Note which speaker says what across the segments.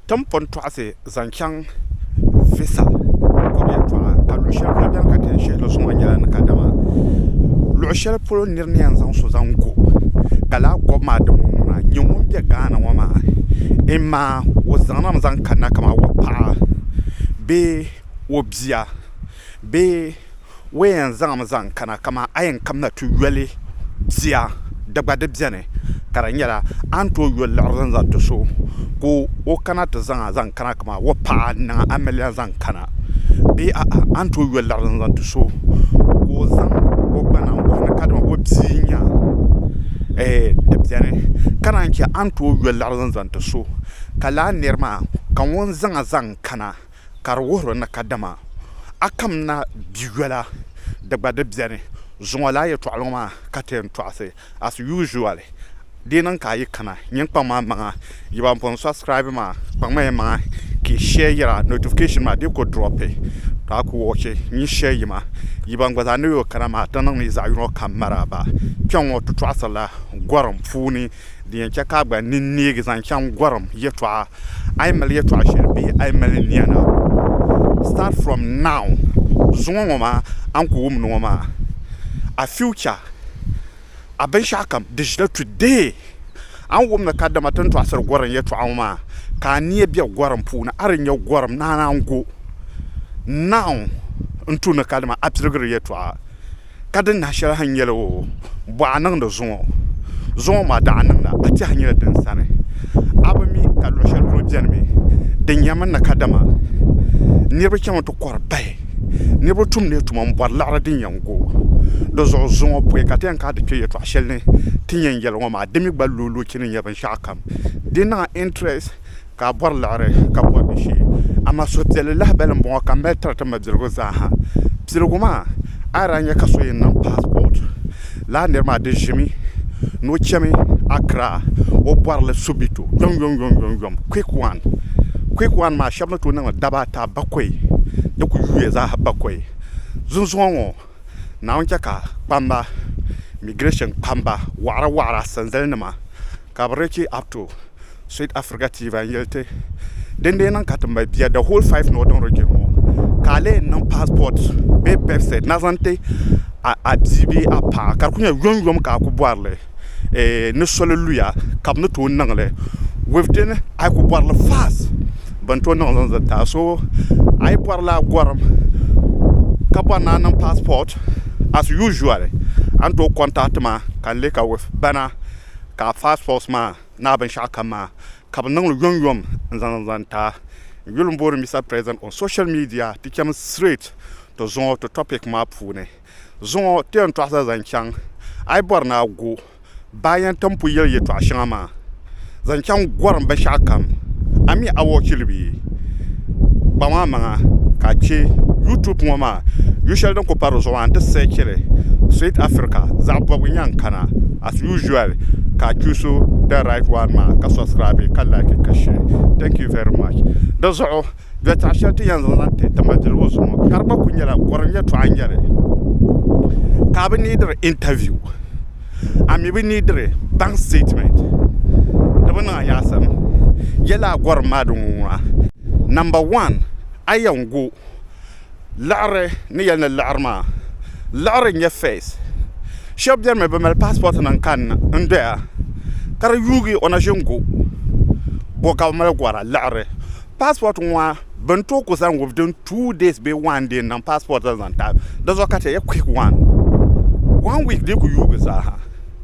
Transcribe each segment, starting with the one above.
Speaker 1: Tim pun tɔɣisi zaŋ chaŋ Visal bɔbu yɛltɔɣa ka luɣ shɛli polo beni ka ti yɛn shihi li zuŋɔ maa nyɛla ni kadama luɣ shɛli polo nir ni yɛn zaŋ so zaŋ go ka lala gɔbu maa dini ŋɔ ŋuna n-nyɛ ŋun be Ghana ŋɔ maa imaa o zaŋ na mi zaŋ kanna kamani o paɣa bee o bia. Bee o yɛn zaŋmi zaŋ kana kaman a yɛn kamina ti yoli bia di gba di beni ka di nyɛla a ni tooi yo liɣiri zaŋ zali ti so ka o kana ti zaŋ a zaŋ kana kaman o paɣa n niŋ a miliya zaŋ kana bee a'a a ni tooi yo liɣiri zaŋ zali ti so ka o zaŋ o gbana n wuhi ni kadama o bia n nya ɛɛh di beni ka naan che a ni tooi yo liɣiri zaŋ zali ti so ka lala niri maa ka ŋun zaŋ a zaŋ kana Ka di wuhir o ni kadama a kam na bi yɔla di gba di beni zuŋɔ lala yɛtɔɣili ŋɔ maa ka ti yɛn tɔɣisi as usual di niŋ ka a yi kana nyin kpaŋ ma maŋa yi ban pun subscribe maa kpaŋ ma yi maŋa ka yi share yira notification maa di ku drop to a ku watch nyin share yima yi ban gba zaa ni yoo kana maa ti niŋ ni yi zaɣi yino kam maraaba kpɛŋ ŋɔ ti tɔɣisiri la gɔrim puuni. Di yɛn chɛ ka a gba nini neegi zaŋ chaŋ gɔrim yɛtɔɣa. A yi mali yɛtɔɣ shɛli bee a yi mali niɛna, start from now, zuŋɔ ŋɔ maa a ni ku wumdi ŋɔ maa, a future, a binshɛɣukam di ʒila today. A ni wumdi kadama ti ni tɔɣisiri gɔrim yɛtɔɣa ŋɔ maa, ka a nia be gɔrim puuni, a di nya gɔrim naana n-go now n-tu ni kadama a piligiri yɛtɔɣa. ka di nahi shɛli a ni yɛli o bɔɣa niŋdi zuŋɔ zuŋɔ maa daɣu niŋda a tɛhi nyɛla din sani a bi mi ka luɣ shɛli polo bɛni mi di nyami ni kadama niriba chaŋmi ti kɔri paya niriba tumdila tuma m-bɔri liɣiri din yɛn gu di zuɣu zuŋɔ pɔi ka ti yɛn kana ti kpe yɛltɔɣ shɛli ni ti ni yɛn yɛli ŋɔ maa di mi gba loolee chini n-nyɛ binshɛɣukam di niŋla intirɛsi ka a bɔri liɣiri ka bɔri di shee. Amaa suhupiɛlli lahibali m-bɔŋɔ ka m mali tiri ti ma biligu zaaha. Piligu maa, a yi daa nya ka so yɛn niŋ paasipɔɔti, lala nir maa di ʒimi ni o chami Accra, o bɔri li Subito yomyomyomyom, Quick One. Quick One maa, shɛba ni tooi niŋ li daba ata, bakɔi, di kuli yuuya zaaha bakɔi. Zunzuŋɔ ŋɔ, Naawuni chɛ ka kpamba, migirɛshin kpamba, wɔɣira wɔɣira, sanzalinima, ka bɛ richi apto. Sweet Africa TV n yeli ti din dee niŋ ka ti mali bia the whole five northern region ŋɔ ka a lee n niŋ passport bee birth cert na zaŋ ti a bia bee a paɣa ka di ku nyɛ yom yom ka a ku bɔrili ni soli luya ka bi ni tooi niŋli within a yi ku bɔrili fast bin tooi niŋli n zaŋ ti a so a yi bɔri lala gɔrim ka bɔri ni a niŋ passport as usual a ni tooi contact ma ka n lee ka with bana ka a passport maa. Naa binshɛɣu kam maa ka bɛ niŋli yom yom n zaŋ zaŋ ti a. N yuli n booni Mister President on social media ti cham straight to zuŋɔ to topic maa puuni. Zuŋɔ ti yɛn tɔɣisa zaŋ chaŋ a yi bɔri ni a go baa yɛn tin pu yɛli yɛtɔɣa shɛŋa maa zaŋ chaŋ gorim binshɛɣu kam a mi a watch li bee? Kpaŋ a maŋa ka a che YouTube ŋɔ maa yushɛli din kuli pari di zuɣu maa nti search li Sweet Africa zaɣi bɔbigu n yɛn kana. as usual ka a choose the right one maa ka subscribe ka like ka share thank you very much di zuɣu yɛltɔɣa shɛli ti yɛn zaŋ ti tima diribu zuɣu ka di gba ku nyɛla gɔrim yɛltɔɣa n nyɛli ka a bi neediri interview a mi bi neediri bank statement di bi niŋ a nyaɣasim yɛla a gɔrim maa din ŋun ŋɔ a number one a yɛn go Liɣiri ni yɛli ni liɣiri maa liɣiri n-nyɛ fees shɛba beni mi bɛ mali paasipootinima n-kanna n-doya ka di yuui o na ʒini gu bo ka bɛ mali gɔra liɣiri paasipooti ŋɔ maa bɛ ni tooi ku zaŋ wudin tuu dɛs bee wan dee n-niŋ paasipooti zaŋ ti a di zuɣu ka ti yɛli kuwik waan wan wiiki dii ku yuui zaa ha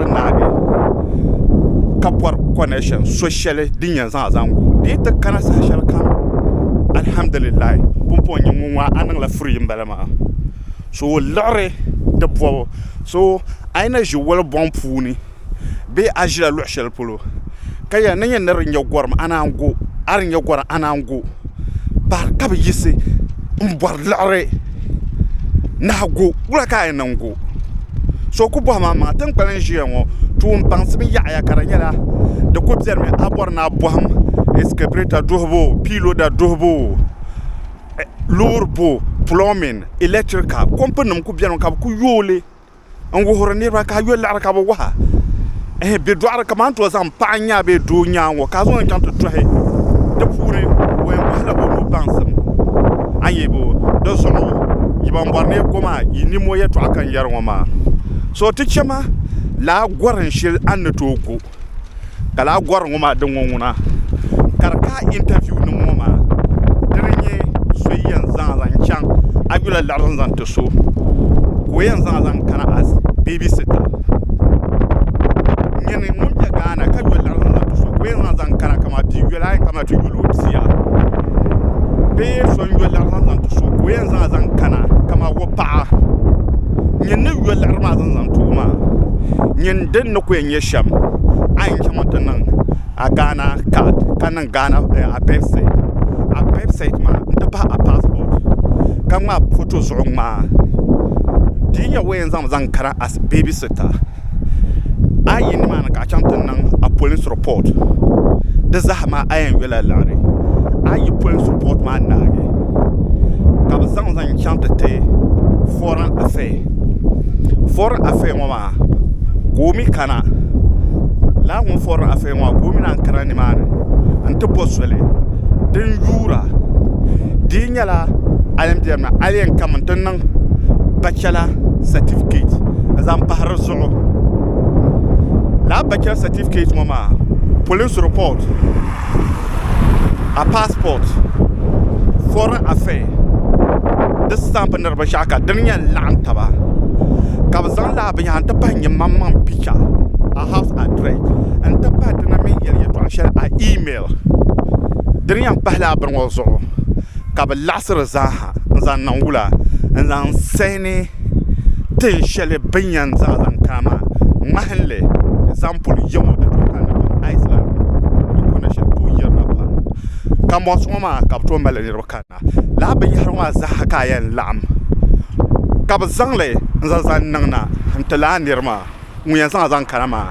Speaker 1: ti naagi ka bɔri kɔnɛshin so shɛli din yɛn zaŋ a zaŋ gu di yi ti kana saha shɛli kam alhamdulillahi pumpɔŋ n nyɛ ŋun ŋɔ a niŋla furiyi m-bala maa so o liɣiri di bɔbu so a yi na ʒi walibɔŋ puuni bee a ʒila luɣ shɛli polo ka yɛli ni n yɛn ni di nya gɔrim a naan gu a di nya gɔrim a naan gu ka bi yiɣisi n bori liɣiri naɣa go wula ka a yɛn niŋ go so o ku bohi maa maŋa tinkpali n ʒiya ŋo toon baŋsim yaɣaya ka di nyɛla di ku biɛni mi a bori ni a boham ɛskavɛta duɣubu piiroda duɣubu loori buɣu pulomin ilɛktirika kompin nim ku biɛni mi ka bi ku yooi li n wuhiri niraba ka a yuli liɣiri ka bi waha bɛ doɣari kamani ti o zaŋ paɣa nyaa bee doo nyaa ŋo ka a zaŋo chɛŋ ti tohi di puuni o yɛn bohila o nuhi baŋsim a ni yɛ bo dinzuɣu yi ban bori ni ko maa yi niɛm o yɛltɔɣa ka n yɛri ŋo maa so ti chɛ ma laa gorim shɛli a ni tooi go ka laa gɔri ŋɔ maa din ŋɔ ŋuna ka di kaai intɛviu nim ŋɔ maa di ni nyɛ so yɛn zaa zaŋ chaŋ a yi yuli laɣiri zaŋ ti so ka o yɛn zaa zaŋ kana as bɛbi sita n nyɛli ŋun bɛ Ghana ka yuli laɣiri zaŋ ti so ka o yɛn zaa zaŋ kana kamani bia yɔla a yɛn kana ti yuli o bia bee so n yuli laɣiri zaŋ zaŋ ti so ka o yɛn zaa zaŋ kana kamani o paɣa nyini yuli laɣiri maa zaŋ zaŋ ti o maa nyin din ni ku yɛn nyɛ shɛm a yi chɛ ŋun ti niŋ a gaana kaad ka niŋ gaana abirɛd sɛɛt abirɛd sɛɛt maa n ti pahi a paasipɔt ka ŋmaai foto zuɣu ŋmaa di yi nyɛ wo yɛn zaŋmi zaŋ kana ɛs beebi sita a yi yuli nimaani ka a chɛŋ ti niŋ a polisi ripɔt di zaham a yɛn yula liɣiri a yi yi polisi ripɔt maa naagi ka bi zaŋ zaŋ chɛŋ ti ti fɔrin afɛya fɔrin afɛya ŋɔ maa maa ka o mi kana lala ŋun forila afeya ŋɔ maa ka o mi lahi kana nimaani n ti bo soli din yuura di yi nyɛla a yen beni maa a yi yen kami n ti niŋ bachela satifiketi n zaŋ pahi dizuɣu lala bachela satifiketi ŋɔ maa polinsi ripoti. a pasport foreign affair di stamp ni di binshaɣu ka din yɛn laɣam taba ka bi zaŋ laa binyahari n ti pahi n nyɛ maŋ maŋ picha a haus adirɛs n ti pahi di ni mini yɛli yɛltɔɣa shɛli a iimɛl dini yɛn pahi laa bini ŋo zuɣu ka bi laɣasiri zaaha n zaŋ niŋ wula n zaŋ saini tin shɛli bɛ ni yɛn zaɣ zaŋ kana maa ŋmahinli ɛzampuli yiŋɔ di tooi kanna pam Iceland di kɔna shɛli tooi yirina pam kambɔns ŋɔ maa ka bɛ tooi mali niriba kanna lala binyɛhiri ŋɔ maa zaa ka a yɛn laɣim ka bɛ zaŋli n-zaŋ zaŋ niŋ na n-ti lala nir maa ŋun yɛn zaŋ a zaŋ kana maa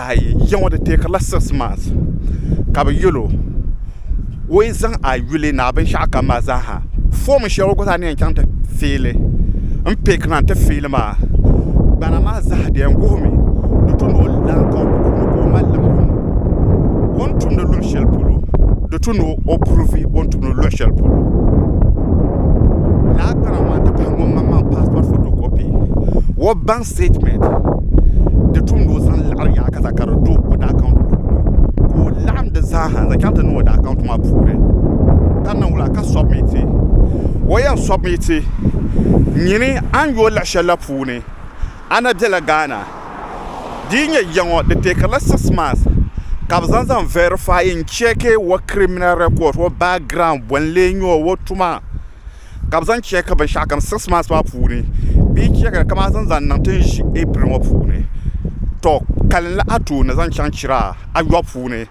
Speaker 1: ayi ya ŋɔ di teekirila six months ka bɛ yɛl o o yi zaŋ a yuli ni a binshɛɣu kam maa zaaha fom shɛli o gba zaa ni yɛn chaŋ ti fiili m-piikina nti fiili maa gbana maa zaa di yɛn wuhi mi di tu ni o lan ka o mali liɣiri ŋɔ o ni tumdi luɣ shɛli polo di tu ni o purivi o ni tumdi luɣ shɛli polo lala gbana maa nti pahi ŋun maŋmaŋ paasipɔt fotokɔpi o baŋ statement di tum ni o zaŋ laɣiri yaɣa ka ka di do o daa account puuni ka o laɣim di zaaha n zaŋ chaŋ ti niŋ o daa account maa puuni ka niŋ wula ka submit o yɛn submit nyini a ni yo laɣa shɛli la puuni a na bela Ghana di yi nyɛ ya ŋɔ di teekiri la six months ka bɛ zaŋ zaŋ verify n check o criminal record o background bɔ n lee nyɛ o o tuma. ka bɛ zaŋ cheeki binshɛɣu kam six months maa puuni bɛ yi cheeki li kamani zaŋ niŋ ti ni ʒi April ŋɔ puuni to kalinli a tooni zaŋ chaŋ chira ayɔbu puuni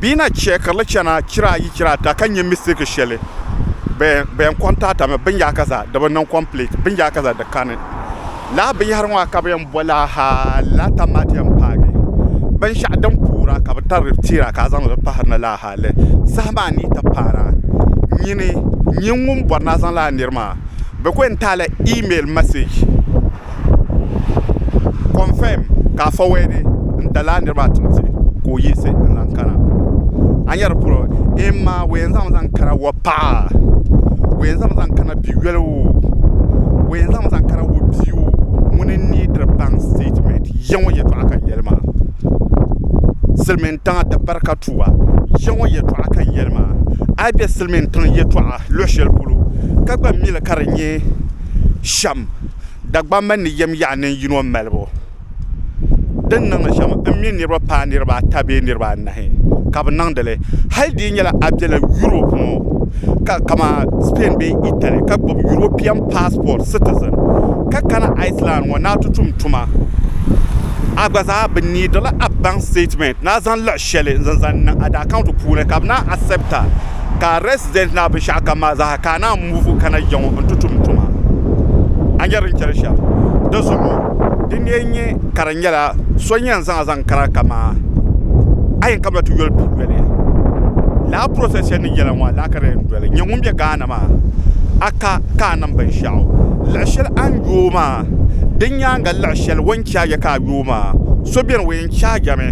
Speaker 1: bɛ yi na cheekiri li chana chira ayi chira ata ka nya mistake shɛli bɛ yɛn kɔntaatami binyaaka zaa di bi niŋ complete binyaaka zaa di kani. Laa binyɛhiri ŋɔ ka bɛ yɛn bo la Lata Madiam paagi binshɛɣu din kuura ka bɛ tari teera ka a zaŋ li pahiri ni laa hali saha maa ni yi ti paara nyini nyin ŋun bɔri ni a zaŋ laa niri maa bɛ ku yɛn taai la iimɛl mɛsɛji kɔnfɛm ka a fɔwɛdi n-ti laa niri maa tiŋ ti ka o yiɣisi n-zaŋ kana a nya di puuni eemma o yɛn zaŋmi zaŋ kana wapaɣa o yɛn zaŋmi zaŋ kana bi'yoli oo o yɛn zaŋmi zaŋ kara o bia oo ŋuni n nee diri baŋ sitɛtimɛnt ya ŋɔ yɛltɔɣa ka n yɛli maa silmiin tiŋa di bari ka tuba ya ŋɔ yɛltɔɣa ka n yɛli maa a yi bɛ silmiin tiŋ yɛltɔɣa luɣu shɛli polo ka gba mili ka di nyɛ shɛm Dagbaŋ mini di yɛm yaɣa ninyino malibu din niŋdi shɛm n mi niraba paai niraba ata bee niraba anahi ka bi niŋdili hali di yi nyɛla a biɛla yuroop ŋo kamani spain bee itali ka gbubi yuropiɛn paasipot sitizin ka kana aisland ŋo ni a ti tum tuma a gba zaa bi niidila a baŋ stɛtimɛnt ni a zaŋ laɣa shɛli n zaŋ niŋ a daakaunt puuni ka bi naan asɛpta ka resident na binshaɣu kam maa zaa ka a naan muvu kana jɛ ŋɔ n-ti tum tuma a nyari din chɛri shɛm di zuɣu din ni yɛn nyɛ ka di nyɛla so n yɛn zaŋ a zaŋ kana kamaa a yɛn kabila ti yoli pii yoli laa process shɛli ni yɛla ŋɔ a lahi ka di yɛn doli n-nyɛ ŋun be Ghana maa a ka ka a niŋ binshɛɣu liɣi shɛli a ni yooi maa di nyaaŋa liɣi shɛli o ni che a yɛ ka a yooi maa so beni o yɛn chaagi a mi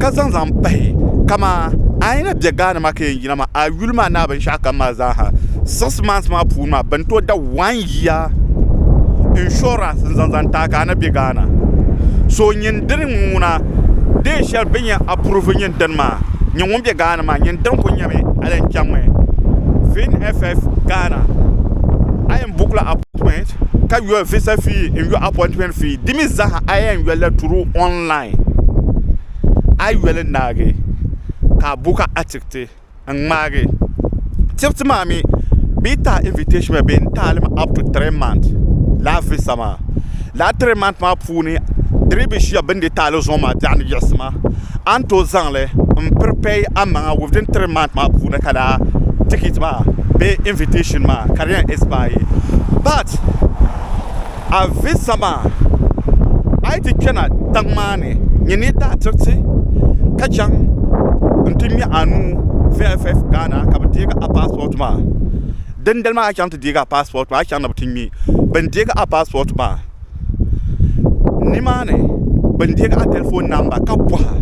Speaker 1: ka zaŋ zaŋ pahi kamaa bɛ Ghana maa ka yɛn yina maa a yuli maa naa binshɛɣu kam maa zaa ha six months maa puuni maa bin tooi da one year insurance n zaŋ zaŋ taai ka a ni bɛ Ghana so nyin dini n ŋuna deen shɛli bin yɛn approve nyin dini maa nyin ŋun bɛ Ghana maa nyin dini ku nyɛmi a yɛn chaŋ mi VFF Ghana a yɛn book la appointment ka yɔ visa fee n yɔ appointment fee di mi zaa ha a yɛn yɔli la through online a yi yoli naagi ka a bo ka a tiriti n ŋmaagi tiriti maa mii bee yi taɣi invitɛshin maa bee n taɣali mi ap tu tiri mant lala visa maa lala tiri mant maa puuni di dii bi ʒiya bini dii taɣali zuŋɔ maa biɛɣuni yiɣisi ma a ni tooi zaŋli n piripeeyi amaŋa within tiri mant maa puuni ka lala tikiti maa bee invitɛshin maa ka di yɛn ɛspaayi bat a visa maa a yi ti kpɛna tiŋ maa ni nyɛ ni daa tiriti ka chaŋ n ti ŋmɛ a nuu VFF Ghana ka bi deegi a paasipɔt maa dindali maa a ni chaŋ ti deegi a paasipɔt maa a ni chaŋ ni bi ti ŋmɛ bin deegi a paasipɔt maa nimaani bin deegi a tɛlifon namba ka bɔha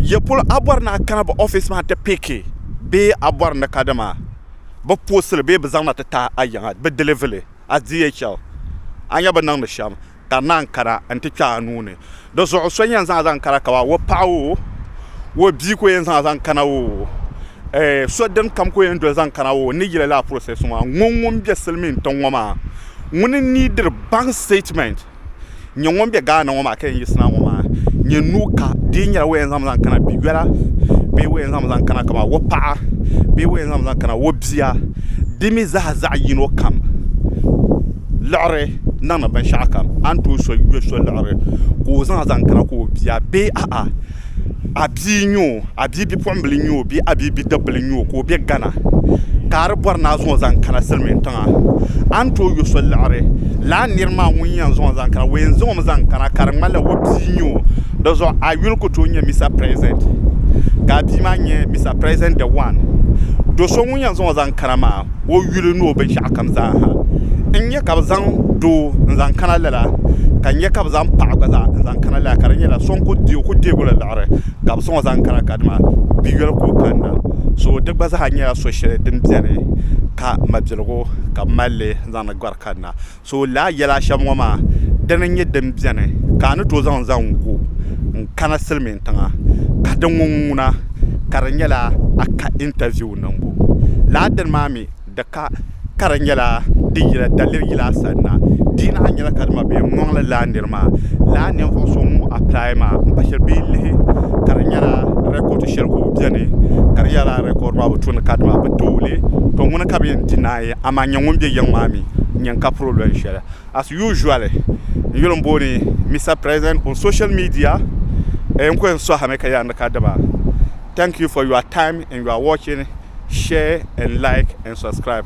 Speaker 1: yɛ polo a bɔri ni a kana bi oofis maa n ti piiki bee a bɔri ni kadama bi poosili bee bi zaŋ na ti taai a yiŋa bi dilivili a DHL a nya bi niŋdi shɛm ka naan kana n-ti kpe a nuu ni. Di zuɣu so yɛn zaŋ a zaŋ kana ka ba o paɣa oo, o bia ka o yɛn zaŋ a zaŋ kana oo, eh, so din kam ka o yɛn doli zaŋ kana oo, n ni yili lala process ŋɔ maa, ŋun ŋun be silimiin tiŋ ŋɔ maa, ŋuni n-need diri bank statement? n nyɛ ŋun bɛ Gaana ŋo maa ka yɛn yiɣisi na ŋo maa n nyɛ nuu ka di yɛn nyɛla wo yɛn zaŋ mi zaŋ kana bia yoli la bee wo yɛn zaŋ mi zaŋ kana kamani wo paɣa bee wo yɛn zaŋ mi zaŋ kana wo bia di mii zaa zaɣ yino kam liɣiri niŋdi binshaɣu kam a ni tooi so liɣiri ka o zaŋ zaŋ kana ka o bia bee aɣa a bia n nyɛ o a bia bipuɣunbili n nyɛ o bee a bia bidib bili n nyɛ o ka o bɛ gana ka a di bori ni a zaŋo zaŋ kana silmiin tiŋa a ni tooi yɔ so liɣiri lala nira maa ŋun yɛn zaŋo zaŋ kana o yɛn zaŋmi zaŋ kana ka di ŋmanila o bia n nyɛ o dizuɣu a yuli ku tooi nyɛ mista pirɛsidɛnt ka a bia maa nyɛ mista pirɛsidɛnt de wan do so ŋun yɛn zaŋo zaŋ kana maa o yuli ni o binshɛɣu kam zaa ha n nyɛ ka bi zaŋ doo n zaŋ kana lala ka n nyɛ ka bi zaŋ paɣa gba zaa n zaŋ kana lala ka di nyɛla so n ku deegila laɣari ka bi zaŋ o zaŋ kana ka dama bia yoli ka o kanna so di gba zaa nyɛla so shɛli din biɛni ka mabiligu ka bi malli zaŋdi gari kanna So laa yɛla a shɛm ŋɔ maa, dini n-nyɛ din beni ka a ni tooi zaŋ zaŋ gu n-kana silimiintiŋa ka di ŋun ŋuna ka di nyɛla a ka intaviu niŋbu? Lala dini maa mi di ka ka di nyɛla di yila daliri yila a sani na. Di yi lahi nyɛla ka dima bee n-ŋɔŋ li lala niri maa, lala ninvuɣ so ŋun apply maa m-pa shiri bee lihi ka di nyɛla record shɛli ka o beni ka di yɛla lala record maa bi tu ni ka dima bi tooi li, to ŋuni ka bɛ yɛn deny amaa n nyɛ ŋun bɛ yiŋ maa mi n nyɛ n ka problem shɛli as usually n yuli n booni Mister President on social media ee n kuli yɛn suhi mi ka yaa ni ka diba thank you for your time and your watching share and like and subscribe.